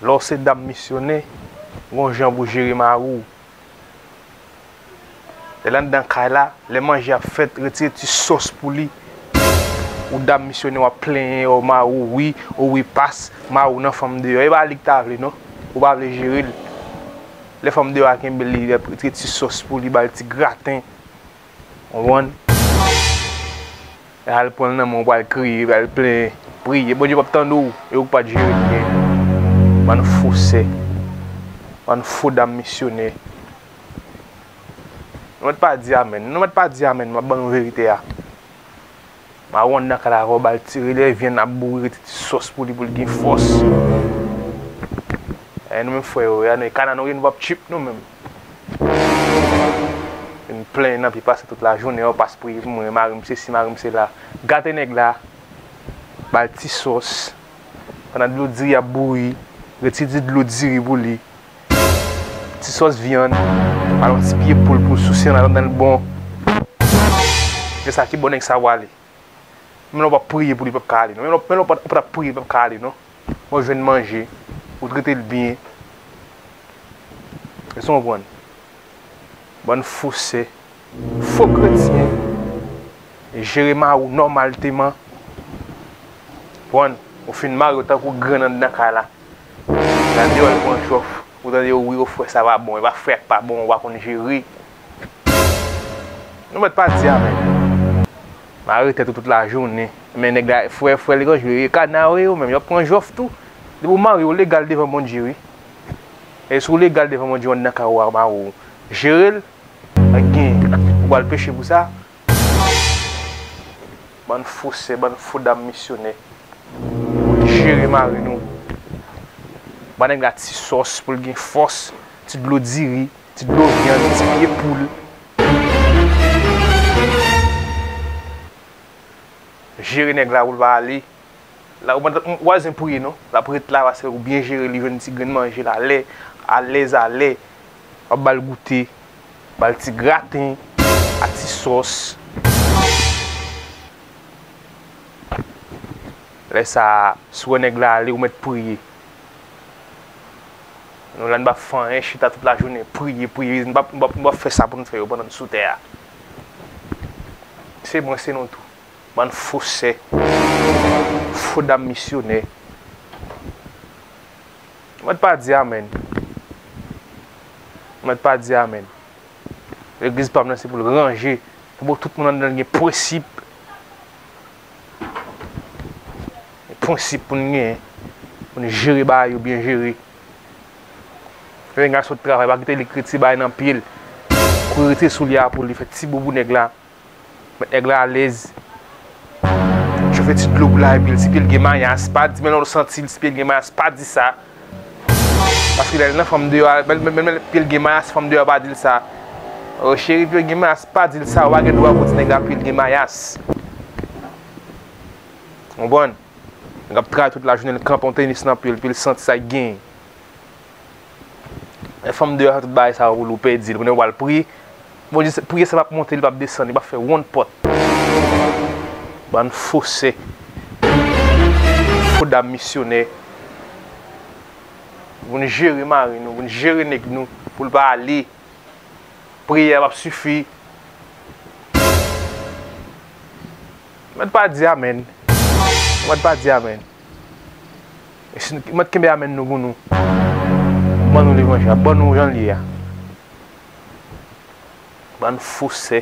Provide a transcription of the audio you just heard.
Lè w se dam misyonè, gon jan pou w jere mari w. Lè l anndan kay la, lè manje ap fèt, retire ti sòs pou li. Ou dam misyonè w ap plenyen o mari w wi, o wi pas, mari w nan fanm deyò. E pa li k ta vle non, ou pa vle jere l. Lè fanm deyò a kenbe li, retire ti sòs pou li, ba l ti graten. Ou konprann? Al pran l nan men w pou al kriye, pou al plenyen. Priye. Bondye p ap tande w e ou k pa t jere byen. Bann fo sè. Bann fo dam misyonè. Nou mèt pa di amèn. Nou mèt pa di amèn. M ap ban nou verite a. Maron nan kay la ankò bal ti relè vyann ap bouri rete ti sòs pou li pou li gen fòs. Gade nou menm frè yo, gade nou kana nou gen nou pap tchuip nou menm. Vin plenyen nan pi pase tout la jounen yo pas priye pou mwen marim se si marim se la. Gate nèg la bal ti sòs pandan dlo diri ap bouri rete ti dlo diri pou li Ti sòs vyann, al yon ti pye poul pou sousi an al anndan l bon. Men sa ki bon nèg sa wale. Menm lè w pap priye pou li pap ka ale non. Menm lè w pat ap priye li pap ka ale non. Bon jwenn manje, ou trete l byen. Èske w konprann? Bann fosè. Fo kretyen jere mari w nòmalteman. Konprann? Ou fin mari w tankou grann anndan kay la. Nan deyò li pran jòf. Ou tande yo wi o frè sa pa bon. E pa frè a k pa bon ou pa konn jere. Nou mèt pa di amèn. Mare tèt ou tout lajounen. Men nèg la frè frè li konn jere. E kana w e yo menm. Yo ap pran jòf tou. Depi w mari w ou legal devan Bondye wi. E si w legal devan Bondye ou anndan kay ou a mari w jere l. Mwen gen ou pral peche pou sa. Bann fo sè bann fo dam misyonè moun jere mari nou ba nèg la ti sòs poul gen fòs ti dlo diri ti dlo vyann ti pye poul jere nèg la poul pa ale la ou pa ou pa bzwen priye non lap ret la paske ou byen jere li jwenn ti grenn manjel alè alèz alè. Wap bal goute, bal ti graten ak ti sòs. Lè sa, si w wè nèg la ale, ou mèt priye. Nou la nou pa fanyen chita tout la jounen, priye, priye. Nou pa nou pa fè sa pou nou fè yo pandan nou sou tè a. Se mwen se nou tou. Bann fo sè, fo dam misyonè. Mwen t pa di amen. Mwen t pa di amen. Legliz pam nan se pou l ranje, se pou tout moun anndan l gen prensip. Gen prensip pou n gen, pou n jere bagay yo byen jere. Lè nèg la sot travay pa kite li k rete ti bagay nan pye l, kouri rete sou li a pou li fè ti boubou nèg la. Met nèg la alèz. Chofe ti dlo pou la epi l si pye l gen mayas pa di men lè w santi l si pye l gen mayas pa di sa. Paske lè l nan fanm deyò a menm lè pye l gen mayas fanm deyò a pa di l sa. Oh cheri pye w gen mayas pa di l sa ou pa gen dwa pou w di nèg la pye l gen mayas. Konprann? Nèg ap travay tout lajounen l kanpe yon tenis nan pye l epi l santi sa ki genyen. Lè fanm deyò sa tout bagay sa ou lou pèdil kounya ou pral priye Bondye se priye sa pap monte li pap desann li pap fè wonn pòt bann fo sè fo dam misyonè voun jere mari nou voun jere nèg nou poul pa ale priyè a pap sifi mèd pa di amèn mèd pa di amèn. Mèt kenbe amen nou pou nou ban nou levanjil la ban nou janl ye a bann fosè.